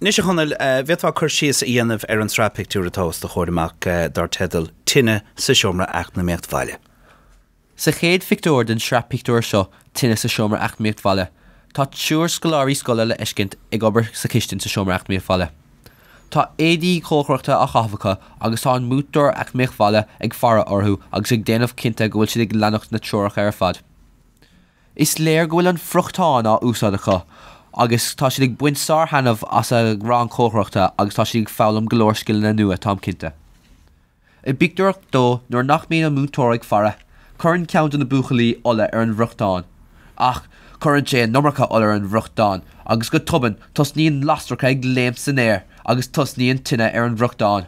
Anois a Chonaill, an bhféadfá cur síos a dhéanamh ar an sraith pictiúr atá os do chomhair amach dar teideal 'Tine sa Seomra Eacnamaíocht Bhaile'. Sa chéad phictiúr den sraith pictiúr seo, 'Tine sa Seomra Eacnamaíocht Bhaile', tá triúr scoláirí scoile le feiscint ag obair sa chistin sa Seomra Eacnamaíocht Bhaile. Tá éadaí cócaireachta á chaitheamh acu agus tá an Múinteoir Eacnamaíocht Bhaile ag faire orthu agus ag déanamh cinnte go bhfuil siad ag leanacht na treoracha ar fad. Is léir go bhfuil an friochtán á úsáid acu agus tá siad ag baint sár-thaitneamh as an rang cócaireachta agus tá siad ag foghlaim go leor scileanna nua, táim cinnte. I bpictiúr a dó, nuair nach mbíonn an múinteoir ag faire, cuireann ceann de na buachaillí ola ar an bhfriochtán. Ach, cuireann sé an iomarca ola ar an bhfriochtán agus go tobann, tosnaíonn lasracha ag léimt san aer agus tosnaíonn tine ar an bhfriochtán.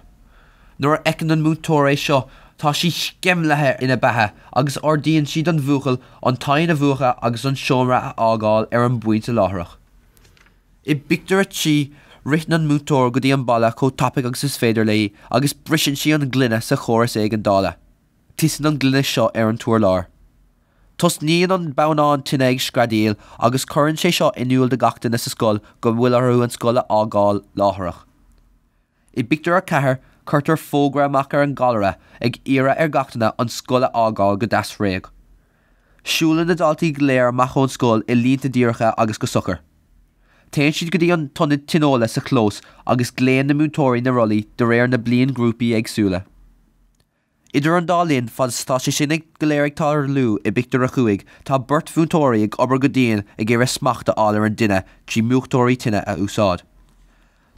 Nuair a fheiceann an múinteoir é seo tá sí sceimlithe ina beatha agus ordaíonn sí don bhuachaill an t-oigheann a mhúchadh agus an seomra a fhágáil ar an bpointe láithreach. I bpictiúr a trí, ritheann an múinteoir go dtí an balla chomh tapaidh agus is féidir léi agus briseann sí an ghloine sa chóras éigeandála. Titeann an ghloine seo ar an t-urlár. Tosnaíonn an bonnán tine ag screadaíl agus cuireann sé seo in iúl do gach duine sa scoil go bhfuil orthu an scoil a fhágáil láithreach. I bpictiúr a ceathair cuirtear fógra amach ar an gcallaire ag iarraidh ar gach duine an scoil a fhágáil go deas réidh. Siúlann na daltaí go léir amach ón scoil i línte díreacha agus go socair. Téann siad go dtí an t-ionad tionóile sa chlós agus glaonn na múinteoirí na rollaí de réir na bliainghrúpaí éagsúla. Idir an dá linn, fad is atá sé sin go léir ag tarlú i bpictiúr a cúig, tá beirt mhúinteoirí ag obair go dian ag iarraidh smacht a fháil ar an dtine trí múchtóirí tine a úsáid.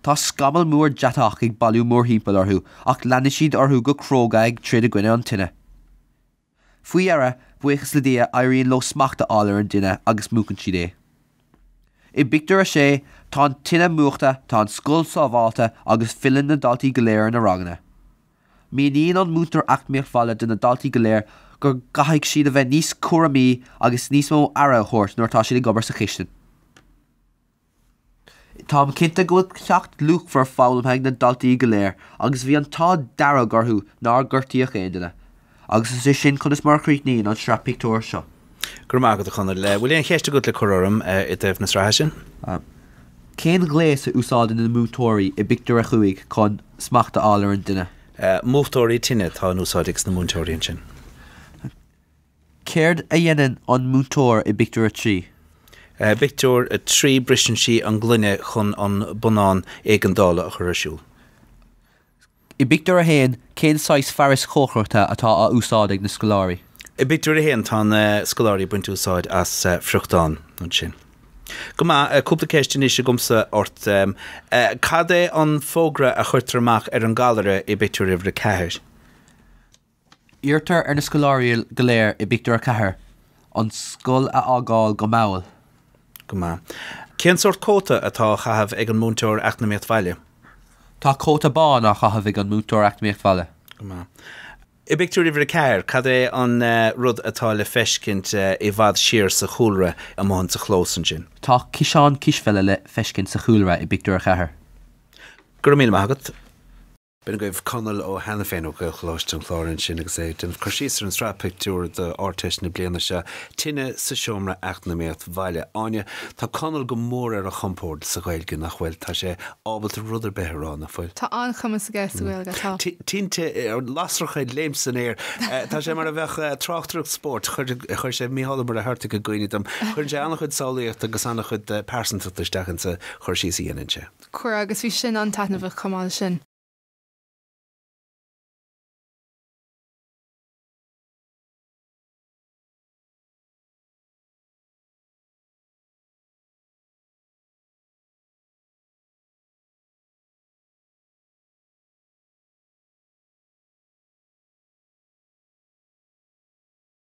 Tá scamall mór deatach ag bailiú mórthimpeall orthu ach leanann siad orthu go cróga ag troid i gcoinne an tine. Faoi dheireadh, buíochas le Dia, éiríonn leo smacht a fháil ar an dtine agus múchann siad é. I bpictiúr a sé, tá an tine múchta, tá an scoil sábháilte agus filleann na daltaí go léir ar a ranganna. Míníonn an múinteoir Eacnamaíocht Bhaile do na daltaí go léir go gcaithfidh siad a bheith níos cúramaí agus níos mó aire a thabhairt nuair atá siad ag obair sa chistin. Táim cinnte go bhfuil ceacht luachmhar foghlamtha ag na daltaí go léir agus bhí an t-ádh dearg orthu nár gortaíodh aon duine. Agus is é sin conas mar a chríochnaíonn an sraith pictiúr seo. Go raibh maith agat, a Chonaill. Bhfuil aon cheist agat le cur orm i dtaobh na sraithe sin? Cén ghléas a úsáideann na múinteoirí i bpictiúr a chúig chun smacht a fháil ar an dtine? Múchtóirí tine atá in úsáid ag sna múinteoirí ansin. Céard a dhéanann an múinteoir i bpictiúr a trí? I bpictiúr a trí briseann sí an ngloine chun an bonnán éigeandála a chur ar siúl. I bpictiúr a haon, cén saghas fearais chócaireachta atá á úsáid ag na scoláirí? I bpictiúr a haon, tá na scoláirí ag baint úsáid as friochtán ansin. Go maith. Cúpla ceist anois agamsa ort. Cad é an fógra a chuirtear amach ar an gcallaire i bpictiúr uimhir a ceathair? Iarrtar ar na scoláirí go léir i bpictiúr a ceathair an scoil a fhágáil go mall. Go maith. Cén sórt cóta atá á chaitheamh ag an múinteoir Eacnamaíocht Bhaile? Tá cóta bán á chaitheamh ag an múinteoir Eacnamaíocht Bhaile. Go maith. I bpictiúr uimhir a ceathair, cad é an rud atá le feiscint i bhfad siar sa chúlra amuigh insa chlós ansin? Tá ciseán cispheile le feiscint sa chúlra i bpictiúr a ceathair. Go raibh míle maith agat. B'in agaibh Conall Ó hAiniféin ó Ghaelcholáiste an Chláir ansin agus é ag déanamh cur síos ar an sraith pictiúr d'Ardteist na bliana seo, Tine sa Seomra Eacnamaíocht Bhaile Áine. Tá Conall go mór ar a chompord sa Ghaeilge, nach bhfuil? Tá sé ábalta rud ar bith a rá, nach bhfuil? Tá an-chumas aige sa Ghaeilge, tá. Tinte, lasracha ag léimt san aer. Tá sé mar a bheadh tráchtaireacht spóirt, chuir sé, Mícheál Ó Muircheartaigh i gcuimhne dom, cuireann sé an-chuid samhlaíochta agus an-chuid pearsantachta isteach insa chur síos a dhéanann sé. Chuir agus bhí sin an-taitneamhach chomh maith leis sin.